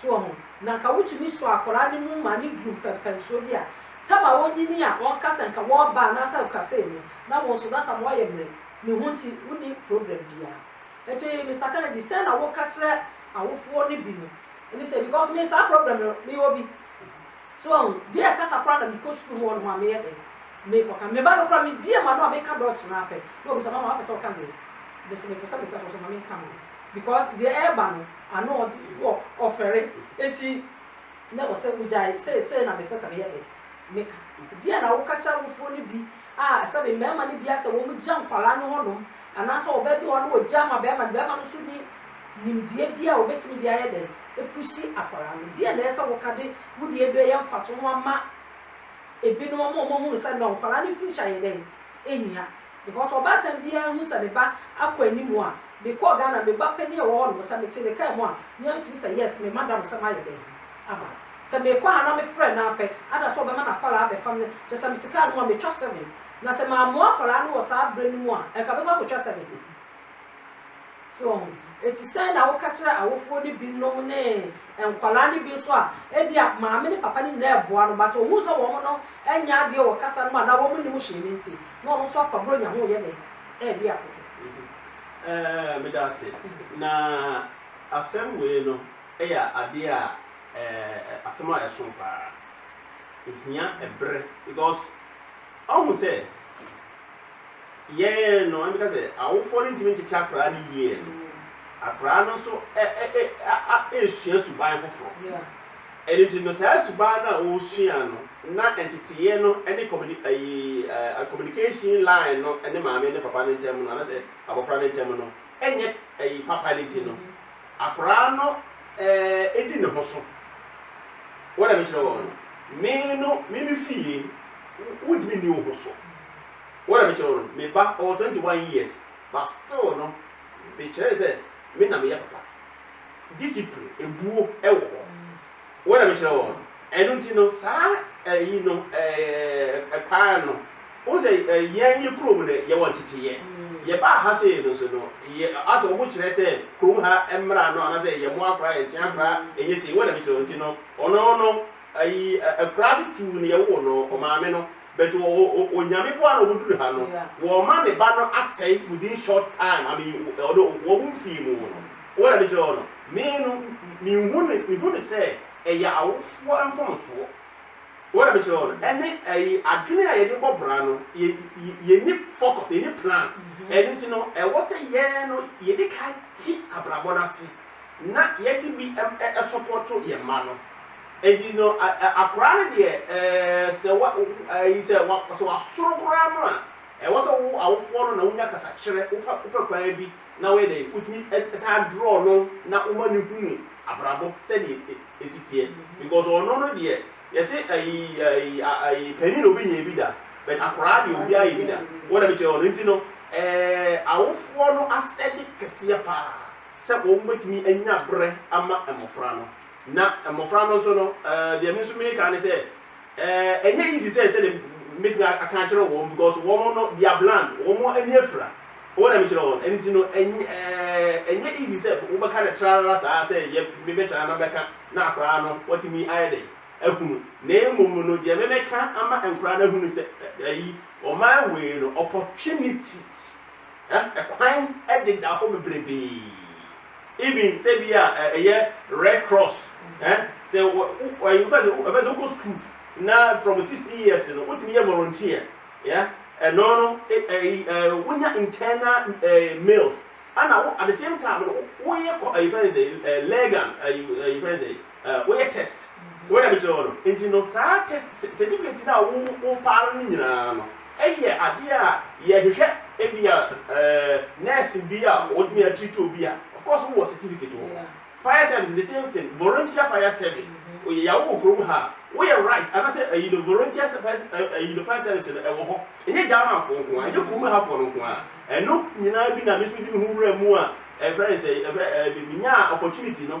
A: soɔ ho, na nka wotumi sɔ akwadaa no mu ma no duru mpɛnpɛnsoɔ bi a, tam a ɔnyini a ɔnka sɛ nka wɔreba anaasɛ ɔkasɛe no, na wo nso that time woayɛ mmerɛ, ne ho nti wonni problem biara. Nti Mister Kennedy, sɛn na woka kyerɛ awofoɔ no bi no? Ɛne sɛ, because me saa problem no mewɔ bi, soɔ ho, deɛ kasa koraa na mekɔ sukuu mu hɔnom a meyɛ dɛn, mekɔka, me ba no koraa mebue m'ano a meka Dutch no ara pɛ na ɔbisa, mama wapɛ sɛ woka deɛ mese mepɛ sɛ meka, sɛ ɔse ma menka no, because deɛ ɛreba no, Ano ɔde wɔ ɔfɛre eti na ɔsɛ wogyae sei sei na mepɛ sɛ meyɛ de meka. Deɛ na woka kyerɛ awofoɔ no bi a sɛ me mmarima no bia sɛ wɔn gya nkwadaa no hɔ nom anaasɛ ɔbaa bi wɔ hɔ na ɔgya ma barima no barima no nso ni nimdeɛ bi a ɔbɛtumi de ayɛ dɛn epusi akwadaa no deɛ na ɛsɛ woka de wo deɛ bi ɛyɛ mfatoho ama ebinom ama wɔn ahunu sɛ no nkwadaa no future yɛ dɛn ehia. Because ɔbaatan biara nhu sɛ ne ba akɔ anim a, me kɔɔ Ghana me ba panin a ɔwɔ hɔ nom sɛ me te ne car mu a me ara me tumi sɛ yes me madam sɛ mayɛ dɛn aba sɛ me kɔ a na me frɛ no ara pɛ ada sɛ ɔbɛma n'akwadaa abɛfa me kyɛ sɛ me te car no mu a me twa seven na sɛ mammoa akwadaa no wɔ saa berɛ no mu a ɛnka bɛkɔ akɔtwa seven. So eti sɛn na woka kyerɛ awofoɔ no binom ne nkwadaa no bi nso a ebia maame ne papa no nyinaa reboa no but ohun sɛ wɔn no nyɛ adeɛ wɔ kasa no mu anaa wɔn nnim hyɛn no nti na ɔno nso afa buronya ho yɛ dɛ ɛɛwe akoko. Ɛɛ
B: meda ase na asɛm wei no yɛ adeɛ a ɛɛ asɛm a ɛso paa ehia ɛbrɛ because ɔho sɛ. yɛn no, ɛmi ka sɛ awofoɔ no ntumi ntete akwadaa no yie no, akwadaa no nso ɛ ɛ ɛ a a ɛresua suban foforɔ. Yeah.
A: Ɛno nti no saa
B: suban no a ɔresua no na nteteeɛ no ne communi ayi ɛ ɛ communication line no ne maame ne papa no ntam no anasɛ abɔfra no ntam no ɛnyɛ ayi papa no nti no Mhm. akwadaa no ɛɛ ɛdi ne ho so. Wɔn na mekyerɛ wɔn no, me no me me fie wo- wontumi nni wo ho so. Wɔn na mekyerɛ wo no, me ba, ɔwɔ twenty one years but still no mekyerɛ no sɛ me na meyɛ papa. Discipline, ebuo wɔ hɔ. Wɔn na mekyerɛ wɔn no. Ɛno nti no saa ɛyi no ɛɛ kwan no wohu sɛ yɛn yɛ kurom no yɛwɔ nkyekyeeɛ. Yɛbaa ha sei no nso no yɛ asɛ wɔn kyerɛ sɛ kurom ha mmara no anaasɛ yɛn mmoa koraa yɛn nkyea koraa ɛnyɛ sei wɔn na mekyerɛ wɔn nti no ɔno no ɛyi akuraase tuu no yɛwoo no ɔmaame no. But o o o onyame boa na ɔmo duru ha no wɔma ne ba no asɛe within short time I mean ɔno wɔn mu fii mu no wɔn na mekyerɛ wɔn no me no me hu no me hu no sɛ ɛyɛ awofoɔ mfomsoɔ wɔn na mekyerɛ wɔn no ɛne ɛyi adwene a yɛde bɔ bra no yɛ yɛ ni focus yɛ ni plan ɛno nti no ɛwɔ sɛ yɛn no yɛde ka ti abrabɔ no ase na yɛde bi ɛsopɔto yɛn mma no Enti no, a, a, akwadaa no deɛ, ɛɛ, sɛ wa, wo, ɛyi, sɛ wa, sɛ wasoro koraa no a, ɛwɔ sɛ wo awofoɔ no na wonya kasakyerɛ, wopɛ, wopɛ kwan bi na woyɛ dɛn, wotumi ɛ, san draw no na woma no hunu abrabɔ sɛdeɛ ɛ, ɛ, ɛsi teɛ. Because ɔno no deɛ, yɛse ɛyi, ɛyi, a, ɛyi, panin na obɛnya bi da, but akwadaa deɛ obiara yɛ bi da. Wɔn na mekyerɛ wɔn no. Nti no, ɛɛ, awofoɔ no asɛde kɛseɛ paa sɛ wɔbɛtumi anya berɛ ama mmɔfra no. Na mmofra no nso no, deɛ me nso meka ne sɛ, ɛnyɛ easy sɛ sɛdeɛ mɛtumi aka akyerɛ wɔn because wɔn no they are bland, wɔn ani afira. Wɔn na mekyerɛ wɔn. Ɛno nti no, ɛnyɛ easy sɛ wobɛka no trarara saa sɛ yɛ mebɛkyerɛ na mɛka na akoraa no watumi ayɛ dɛn ahunu. Na mmom no, deɛ mɛmɛka ama nkoraa no ahunu sɛ ayi, ɔman wei no opportunities. Ɛ kwan deda hɔ bebrebee even sɛ bi a ɛ yɛ red cross ɛ sɛ wɔ wɔ ɛ fɛ sɛ ɛ sɛ wokɔ school na from sixteen years no wotumi yɛ volunteer ya ɛno no ɛ ɛ ɛ wonya internal ɛ mails ana wo at the same time no woyɛ kɔ ɛ fɛ sɛ ɛ legal ɛ ɛ fɛ sɛ eh, woyɛ test wei na mekyerɛ wɔ no nti no saa test certificate no a wo wo faa no nyinaa no ɛyɛ adeɛ a yɛhwehwɛ ebi a eh, nurse bi a wɔtumi atiriti obi a of course wowɔ certificate wɔ hɔ fire service the same thing volunteer fire service mm-hmm. oyè yàwó wò kurom ha woyɛ right anase ɛyi no volunteer ɛyi no fire service no ɛwɔ hɔ ɛnyɛ german fo nko a ɛnyɛ kurom ha fo no nko a ɛno nyinaa bi na mesu di mi ho wura mu a ɛfrɛ sɛ ɛfrɛ ɛɛ mi nya opportunity no.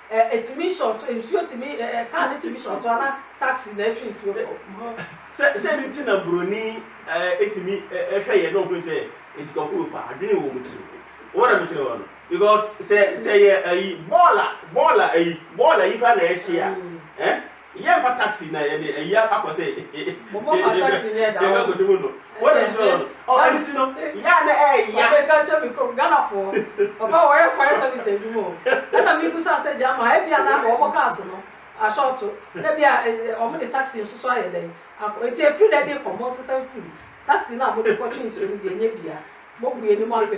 A: Ɛ, ɛtumi short, nsuo tumi, ɛ, ɛ, car no tumi short anaa taxi na ɛtwe nsuo kɔ ho. Sɛ, sɛ ɛno
B: nti na Buroni, ɛ, ɛtumi, ɛ, ɛ, hwɛ yɛn na ɔhunu sɛ ntukwafo wɔ paa, adwene wɔ wɔn tiri mu. Wowɔ na mekyerɛ wɔn no? Because sɛ, sɛ ɛyɛ ayi, bɔɔl a, bɔɔl a ayi, bɔɔl ayi koraa na ɛhye a, ɛ, Yɛ fa taxi na yɛ de ayi akɔ sɛ. Mo mo fa
A: taxi ni ɛda hɔ. Yɛ ka kodi mu no. Wɔ na
B: nkyerɛ wɔn. Ɔ ɛni ti no yɛ a na ɛyɛ ya. Papa ɛka kyerɛ mi krom Ghana
A: foɔ papa wɔ yɛ fire service adwuma o ɛna mi busa sɛ gyama a ɛbi a na wɔn cars no ashorto na bi a wɔn de taxi nso so ayɛ dɛn akɔ eti efiri na ɛde kɔ mo nsesa nfiri taxi na mo de kɔ twe nsuo no deɛ ɛnyɛ bia mo bue ni mo ase.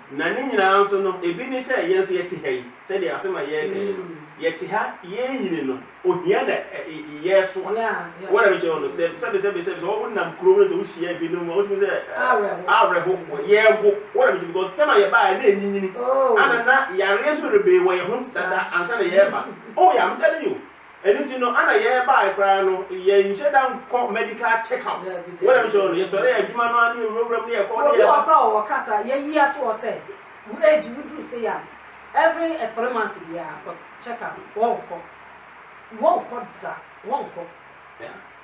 B: Na ne nyinaa nso no, ebi ne sɛ yɛn nso yɛte ha yi, sɛdeɛ asɛm a yɛreka yi no, yɛte ha, yɛrenyini no, ohia na yɛreso a, wɔn a mekyerɛ wo no, sɛ sɛbesɛbe, sɛ sɛ wonam kurom no, sɛ wohyia binom a, wotumi sɛ awerɛho, yɛrewo, wɔn a mekyerɛ because tɛm a yɛbaeɛ na ɛnyinyini, ana na yareɛ nso rebee wɔ yɛn ho nsesa da ansa na yɛreba, oh yeah, I'm telling you. Ɛno nti no ana yɛbae koraa no yɛnhyɛ da nkɔ medical check up wɔ dɛm kyerɛ no yɛsɔre yɛ adwuma no ara ne yɛwura wuram ne yɛkɔ ne yɛba. Obi wɔ hɔ koraa ɔwɔ krataa
A: yɛyi ato hɔ sɛ wo age woduru sei a every three months biara kɔ check up wɔnkɔ wɔnkɔ da wɔnkɔ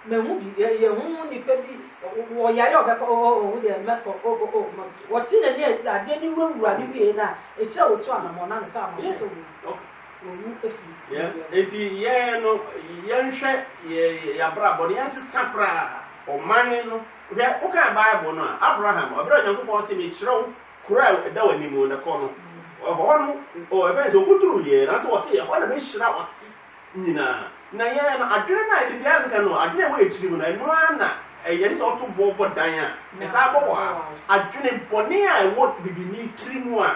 A: mahu bi yɛhu mu nipa bi wɔyare a ɔbɛkɔ ɔhu deɛ mɛkɔ ɔte n'ani adeɛ ne wurawura ne wie no a ɛkyerɛ wɔtu anammɔ na ne ta ama so sɛ wɔ Owu afi Yeah. ne deɛ. Enti
B: yɛn no, yɛnhwɛ yɛ- yɛ- yɛabrabɔ no, yɛnsesa koraa ɔman no. Hwɛ, wokan Bible no a, Abraham, ɛberɛ a Onyankopɔn se, mekyerɛ wo kuro a ɛda w'anim no, na kɔ no. Ɛhɔ no, ɔ- ɛfɛn sɛ ɔkɔduruiɛ, nanso ɔse, ɛhɔ na mɛhyira w'ase nyinaa. Na yɛn no, adwene no a ɛde biara nka no, adwene a ɛwɔ yɛn tirim no, ɛno ara na ɛyɛ te sɛ ɔto boɔ bɔ dan a, ɛsan bɔ hɔ ara. Adwene bɔne a ɛwɔ bibini tiri mu a,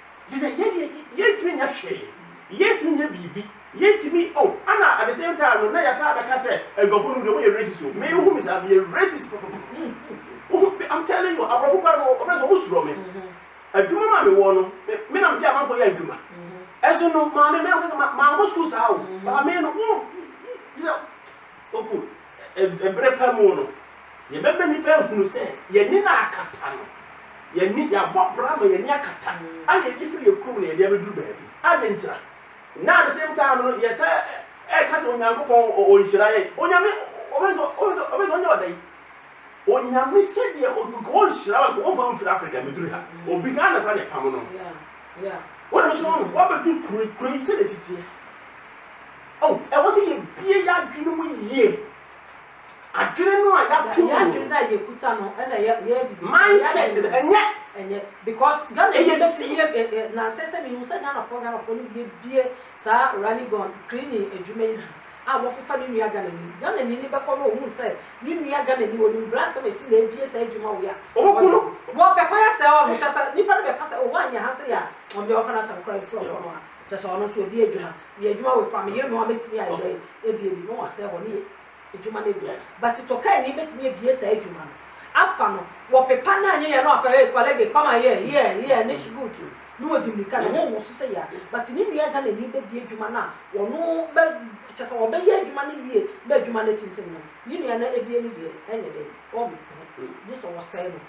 B: Te sɛ yɛn deɛ yɛntumi nyɛ hwee, yɛntumi nyɛ biribi, yɛntumi oh ɛna at the same time no na yɛsan abɛka sɛ nkurɔfoɔ nom deɛ wɔyɛ racist o, me wohu me saa meyɛ racist papapapa, I'm telling you aborɔfo koraa no wɔfrɛ sɛ wɔn suro me, adwuma mu a mewɔ no me na mede amanfoɔ yɛ adwuma, ɛso no maame me na meka sɛ mankɔ sukuu saa o, maame no wo te sɛ. Oku, ɛ, bere pa mu no, yɛbɛma nnipa ahunu sɛ yɛn ani na akata no. Yɛn ani, yɛabɔ bra ma yɛn ani akata a na yɛde firi yɛn kurom na yɛde abɛduru baabi. Adɛn ntira? Na at the same time no, yɛsa ɛka sɛ Onyankopɔn ɔnhyira yɛn. Onyame, ɔbɛn sɛ, ɔbɛn sɛ, ɔbɛn sɛ ɔnyɛ ɔdɛn? Onyame sɛdeɛ ɔnka ɔnhyira wo, nka ɔmfa wo mfiri Africa mmɛduru ha. Obi Ghana kora na ɛpam no.
A: Wode me so ho no,
B: woabɛduru kuro, kuro yi sɛdeɛ ɛsi teɛ. Oh, ɛwɔ sɛ yɛbie yɛn adwene mu yie. Adwene no a yɛato mu. Yɛn adwene no a yɛkuta no ɛna yɛ yɛ bibi. Mindset no ɛnyɛ. Ɛnyɛ because
A: Ghana ɛyɛ bɛ fi yɛ ɛ ɛ na sɛ sɛ mi hu sɛ Ghana fɔ Ghana fɔ no bie bie saa running gun cleaning adwuma yi bi a wɔfefa ne nua Ghana ni Ghana ni ni bɛkɔ no ohun sɛ ne nua Ghana ni onim bra sɛ mɛsi na ebie saa adwuma wɔ yɛ a. Ɔmo kɔ no. Wɔ bɛ kɔ yɛ sɛ ɔmo kyɛ sɛ nipa no bɛ ka sɛ ɔwɔ anyɛ ha sɛ yɛ a ɔmo deɛ ɔfa na sɛ ɔkora efura kɔ no a kyɛ sɛ ɔno nso obi adwuma. Yɛ adwuma wei koraa me yere noa bɛtumi ayɛ dɛn abie bi na wasɛe hɔ ne yɛ adwuma no awie but tokani bɛtumi abie saa adwuma no afa no wɔpepa no anyɛ yɛ no afa hey kɔlɛge come and here here here ne shgoot ne wɔdi mmirika ne ho wo so sɛ yɛ but ne nua gana ni bɛbie adwuma no a wɔno bɛ kyɛ sɛ wɔbɛyɛ adwuma no yie bɛ adwuma no atintim no ne nua no abie no deɛ ɛnyɛ dɛn wɔn gye sɛ wɔsɛe no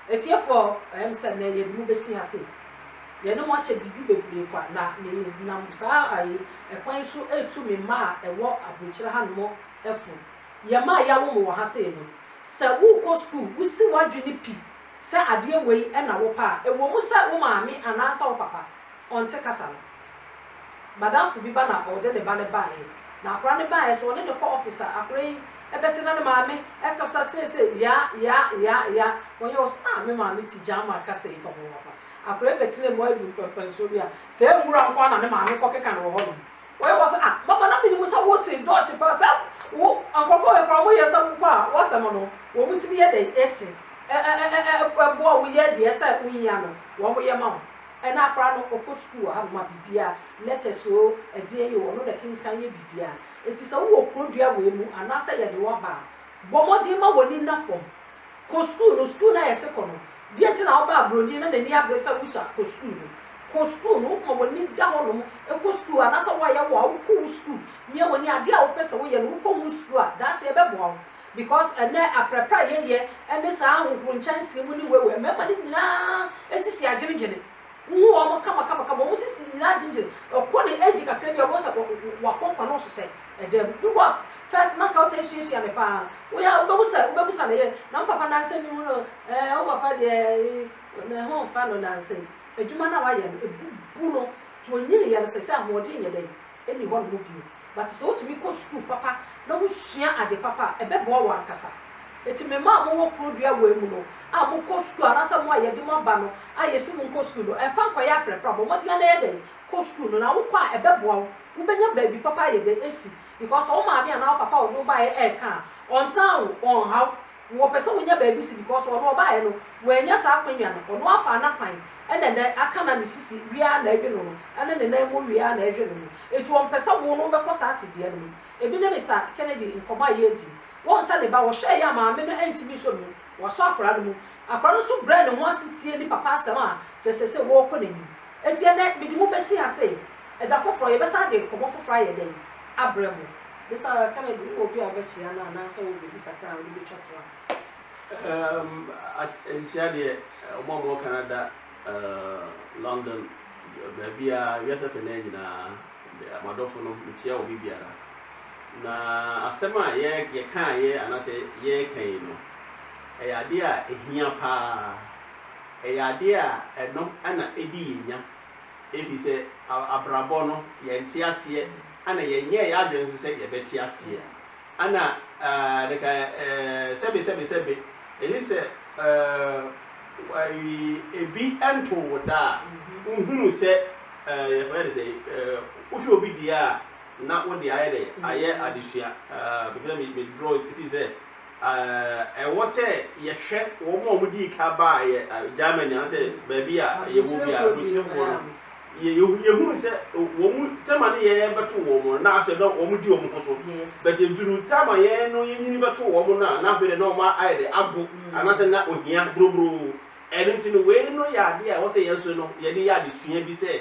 A: Atiefo, ɛyɛ me sɛ nnɛ yɛde mo besi ha sei. Yɛne mo akyɛ biribi bebree kwa, na menam saa ae kwan yi so retu me mma a ɛwɔ aburokyire hanom fo. Yɛn mma a yɛawo mo wɔ ha sei no, sɛ worekɔ sukuu, wusi w'adwene pi sɛ adeɛ wei na wopɛ a, ɛwɔ mu sɛ wo maame anaasɛ wo papa Ɔnte kasa no. Madamfo bi ba na ɔde ne ba no baeɛ. Na akwadaa no baeɛ so ɔne no kɔ office a, akwadaa yi bɛte na ne maame kasa seesei yaa yaa yaa yaa. Ɔyɛ ɔse ah me maame te German kasa yi papapaapa. Akwadaa yi bɛtena mu aduru pɛmpɛnsoɔ bi a, saa nwura nko ara na ne maame kɔ keka no wɔ hɔnom. Ɔyɛ ɔse ah mama na menim sɛ wo te Dutch paa sɛ wo nkorɔfoɔ wei koraa wɔyɛ sɛ wokɔ a w'asɛm no wɔn tumi yɛ dɛn te ɛ ɛ ɛ ɛ boa wo yɛ deɛ ɛsɛ sɛ wohia no wɔn yɛ ma wo. Ɛna akora no ɔkɔ sukuu wɔ hanom a bibia letters oo ɛdeɛn yoo ɔno na ɛkenkan yɛ bibia ɛnti sɛ wowɔ kuro dua wei mu anaasɛ yɛde wo aba a bɔ mmɔden ma w'ani nna fam kɔ sukuu no sukuu no a yɛse kɔ no deɛ nti na wobaa broni na n'ani abere sɛ wosa kɔ sukuu no kɔ sukuu no ma w'ani da hɔnom kɔ sukuu anaasɛ woayɛ wo a wokɔ wo sukuu nyɛ w'ani adeɛ a wopɛ sɛ woyɛ no wokɔ ho sukuu a daakye ɛbɛboa wo Because ɛnnɛ aprɛprɛ a yɛyɛ ɛne saa ahohoro nkyɛnsee mu ne wɛwɛ mmarima no nyinaa sisi agyenegyene wohu wɔn kama kama kama wɔn sisi nyinaa agyenegyene ɛkɔ ne age kakra bi a wɔn sɛ wakɔnkɔn nɔɔso sɛ ɛdɛm bi wɔ first na nka ɔtɛ nsuasua ne paa woyɛ a wobɛhu sɛ wobɛhu sɛ ne yɛ na wo papa nansɛ mi mu no ɛɛ wo papa deɛ ne ho nfa no nansɛ adwuma no a wayɛ no ebubu no to onyini yɛ no sɛ sɛ ahoɔden yɛ dɛ nni hɔnom bio. But sɛ wotumi kɔ sukuu papa na wosua ade papa a, ɛbɛboa wɔn ankasa. Enti me mma a mowɔ kuro dua wei mu no a mokɔ sukuu anaasɛ mo a yɛde mo aba no a yɛsi mo nkɔ sukuu no, ɛmfa nkɔyɛ aprɛprɛ a, bɔ mmɔden ara na yɛ dɛn? Kɔ sukuu no. Na wokɔ a, ɛbɛboa wo. Wobɛnya baabi papa ayɛ dɛn asi. Because sɛ wo maame anaa wo papa a ɔde wo baeɛ reka a, ɔntaa wo, ɔnha wo. wɔpɛ sɛ wɔnya baabi si because ɔno ɔbaeɛ no wannya saa akwanya no ɔno afa anakwan ɛna ɛnɛ aka na ne sisi wie ara na ɛwe no no ɛne ne nan mu wie ara na ɛwe no no enti ɔmpɛ sɛ wo no wobɛkɔ saa tebea no mu ebi ne Mister Kennedy nkɔmmɔ a yɛredi wɔn sɛ ne ba ɔhwɛeɛ a maame no antumi nsɔ ne mu wasɔ akwadaa no mu akwadaa no nso brɛɛ ne ho ase tiee ne papa asɛm a kyerɛ sɛ sɛ wɔrekɔ n'anim Enti ɛnnɛ, mede mo besi ha sei. Ɛda foforɔ, yɛbɛsan de nkɔmmɔ foforɔ ayɛ dɛn? Abrɛ mo. Mister Kennedy, wowɔ obi a wobɛkyea no anaa sɛ wowɔ biribi kakra a wode bɛtwa to a? Erm, at
B: nkyea deɛ, wɔn a wɔwɔ Canada, erm, London, baabiara, wiase afanan nyinaa, me, m'adɔfo nom, mekyea wɔn biribiara. Na asɛm a yɛ, yɛkaeɛ anaasɛ yɛreka yi no, ɛyɛ adeɛ a ɛhia paa. Ɛyɛ adeɛ a ɛno na ɛdi yɛn nya ɛfiri sɛ abrabɔ no yɛnte aseɛ ɛna yɛnyɛɛ yɛn adwene nso sɛ yɛbɛte aseɛ ɛna ɛɛ sɛbe sɛbe sɛbe ɛsi sɛ ɛɛ ɛbi ntoo wo da a wohunu sɛ ɛɛ yɛfrɛ no sɛi ɛɛ wohwɛ obi deɛ a na wo deɛ ayɛ dɛn ayɛ adesua ɛɛ me draw ɛsi sɛ eh, ɛwɔ sɛ yɛhwɛ wɔn a wɔdii ka baa yɛ eh, Germany anaasɛ baabi a yɛwɔ bi a abukyerɛfoɔ no yɛ- yɛ- yɛhunu sɛ wɔn tɛma no yɛn bɛto wɔn no na asɛ na wɔn di wɔn ho so Yes. but eduru tɛma yɛn no yɛnyini bɛto wɔn no a na afei de na wɔn ayɛ de ago Mm. anaasɛ na ohia boroboro ɛno nti no wei no yɛ adeɛ a ɛwɔ sɛ yɛn nso no yɛde yɛ adesua bi sɛ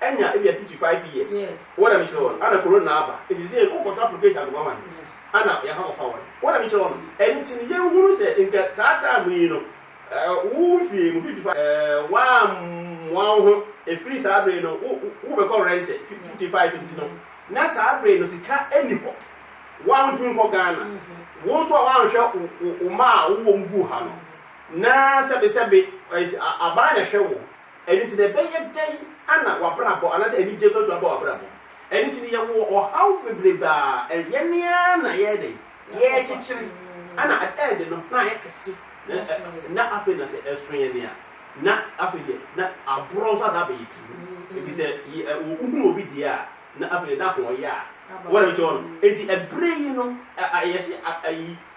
B: Enya ebia fifty five years wɔ na me kyerɛ wɔ no ana corona aba nti sɛ yɛkɔ kɔtɔ application akɔma ma no ana yɛ akɔ fa wɔn wɔ na me kyerɛ wɔ no ɛno nti no yɛn hunu sɛ nka saa time yi no wo wo fie mu fifty five waa mmoa wo ho efiri saa bere no wo wo bɛkɔ rente fifty five nti no na saa bere no sika ɛni hɔ waa ntumi nkɔ Ghana wo nso a waa nhwɛ wo mma a wo wɔ mu gu ha no na sɛbi sɛbi aban na hwɛ wo. Ɛno nti no, ɛbɛyɛ dɛn na w'abrabɔ anaasɛ anigyeɛ bɛduru aba w'abrabɔ mu? Ɛno nti no, yɛwɔ ɔhaw bebrebe a ɛyɛ ne ara na yɛyɛ dɛn? Yɛrekyekyere. Ɛna ɛyɛ den no, na ayɛ kɛse, na afei na sɛ ɛso yɛn a, na afei deɛ na aborɔ nso asan abɛyɛ tirim. Ɛfiri sɛ wohunu obi deɛ a, na afei deɛ na ho yɛ a. Wɔn a ɛkyɛ hɔ no. Enti ɛberɛ yi no, yɛse ayi.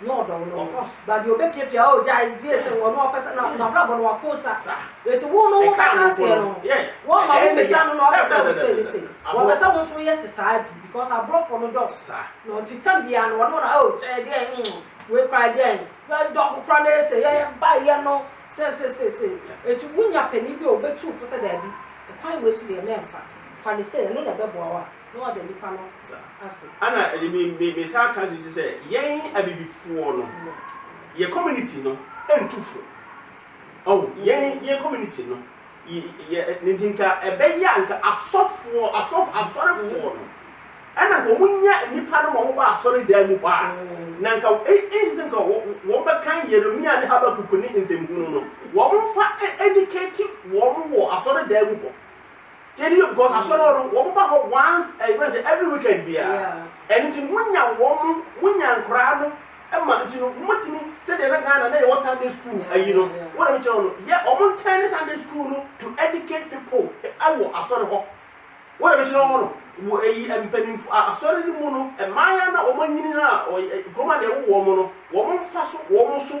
A: na ɔdɔ wo no ba deɛ ɔbɛpiapia o gyae gye sɛ ɔno ɔpɛsɛ na n'abrabɔ no wako sa eti wo no wobɛhyɛ aseɛ no wɔn ma wo bisa no na ɔpɛsɛ wo sɛ ne sɛ wɔpɛsɛ wo nso yɛ te saa bi because aborɔfo no dɔɔso saa na ɔte tam bia no ɔno na o kyɛ deɛ mm wei kora deɛ dɔ ko kora na yɛ sɛ yɛ ba yɛ no sɛ sɛ sɛ sɛ eti wonya panin bi a ɔbɛtu fo sɛ daabi ɛkwan wei so deɛ mɛmfa fa ne sɛ ɛno na ɛbɛboa wo a Na ɔda nnipa no ase. Ana
B: ɛde me me me saa ka sisi sɛ yɛn abibifoɔ no yɛ community no ntu fo ɔho yɛn yɛn community no yɛ ne nti nka ɛbɛyɛ a nka asɔfoɔ asɔfo asɔrefoɔ no ɛna nka wɔn nya nnipa no ma wɔn ba asɔre dan mu hɔ a na nka ɛnsi sɛ nka wɔn bɛkan Yeremia ne Habakuk ne nsɛmhunu no wɔn fa ɛdikɛti wɔn wɔ asɔre dan mu hɔ. Gyedi yɛ because asɔre hɔ no wɔn ba hɔ once ɛyɛ fɛn sɛ every weekend biara ɛno nti no wonya wɔn wonya nkoraa no ɛma nti no wɔtumi sɛdeɛ na Ghana na yɛwɔ Sunday school ayi no wɔn na mi kyerɛ wɔn no yɛ wɔn ntɛn ne Sunday school no to educate people ɛwɔ asɔre hɔ wɔn na mi kyerɛ wɔn no wɔ ɛyi mpanyinfo asɔre no mu no mmaayɛ na wɔn anyini na ɔyɛ kuroma na ɛwɔ wɔn no wɔn nfa so wɔn so.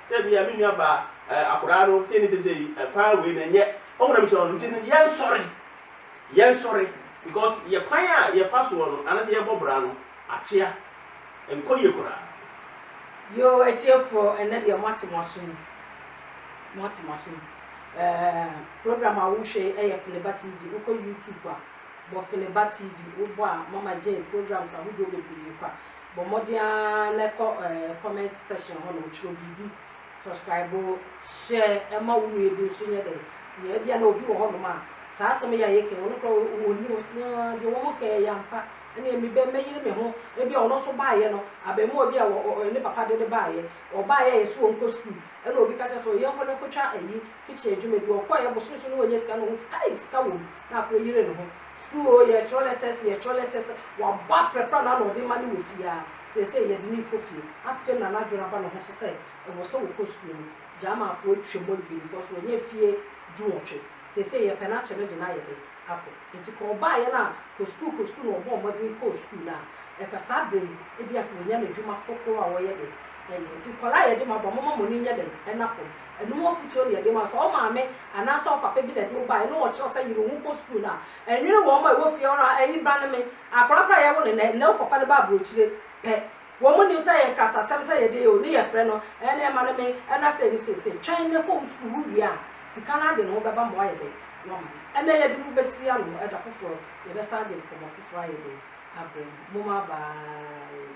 B: Sɛ ebia me nua baa eh, akoraa no sei ne seisei eh, paa wei na ɛnyɛ ɔmo na mekyerɛ no nti no yɛnsɔre yɛnsɔre because yɛ kwan a yɛfa soɔ no anasɛ yɛbɔ bra no akyea ɛnkɔ yie koraa. Yoo
A: atiefoɔ ɛnɛ deɛ moate mo asom moate mo asom ɛɛ program a wohwɛ yi ɛyɛ Feneba TV wokɔ YouTube a bɔ Feneba TV wobɔ a Mama Jane programs ahodoɔ bebree kwa Bɔ mmɔden ara na kɔ ɛɛ comment section hɔ nom twerɛ biribi, subscribe, share ɛma wo nua bi nso nyɛ dɛ na ebia na obi wɔ hɔ nom a saa asɛm yi a yɛkɛn ɔno kora ɔnni hɔ sɛ aa deɛ wɔn kɛɛ yɛ ampa ɛneɛ me bɛ mɛyere me ho ebia ɔno nso baayɛ no abɛmoa bi a ɔ ɔ ne papa de ne baayɛ ɔbaayɛ a yɛsi wɔn kɔ school ɛna obi ka kyerɛ sɛ ɔ yɛnkɔ na kɔtwa ayi kitchen adwuma bi ɔkɔɔ yɛ bosome so na wɔnya sika na ɔhu sɛ kai sika wɔ mu na akɔ yere ne ho school o yɛ twerɛ letters yɛ twerɛ letters wabɔ aprɛprɛ na na ɔde ma ne wɔ fie a sɛsɛ yɛ de ne kɔ fie afei na na adwene aba ne ho so sɛ ɛwɔ sɛ wɔkɔ school no gyama afo atwa mu adwene because wɔnya fie du wɔtwe sɛsɛ yɛ pɛ no akyɛ no de no ayɛ dɛ akɔ nti kɔ ɔbaa yɛ no a kɔ school kɔ school na ɔbɔ ɔmɔden kɔ school no a ɛka saa bere yi ebi a wɔnya n'adwuma kɔkɔɔ a wɔyɛ dɛ ɛyɛ nti kɔla yɛ de ma ba mɔma mɔni nyɛ dɛ ɛna fam Ɛno ho afotuo ne yɛde ma. Sɛ wo maame anaasɛ wo papa bi na ɛde wo baeɛ na ɔkyerɛ wo sɛ yere wo ho kɔ sukuu no a, nwene wɔn a ɛwɔ fie hɔ no a, Ɛyi ba ne me. Akwadaa koraa a yɛwo no nnɛ, nnɛ wokɔfa no ba aburokyire pɛ. Wɔn nnim sɛ ɛyɛ nkratasɛm sɛ yɛde yɛ o, ne yɛfrɛ no, ɛɛ na ɛma ne me, ɛna sei ne sei sei. Twɛn na kɔ wo sukuu, wowie a, sika no ara de ne ho bɛba ma woayɛ dɛn? Woama no. Ɛnna yɛde mo bɛsi ano, ɛda foforɔ yɛbɛsan de nkɔmmɔ foforɔ ayɛ dɛn? Abrɛ mo. Momma bye.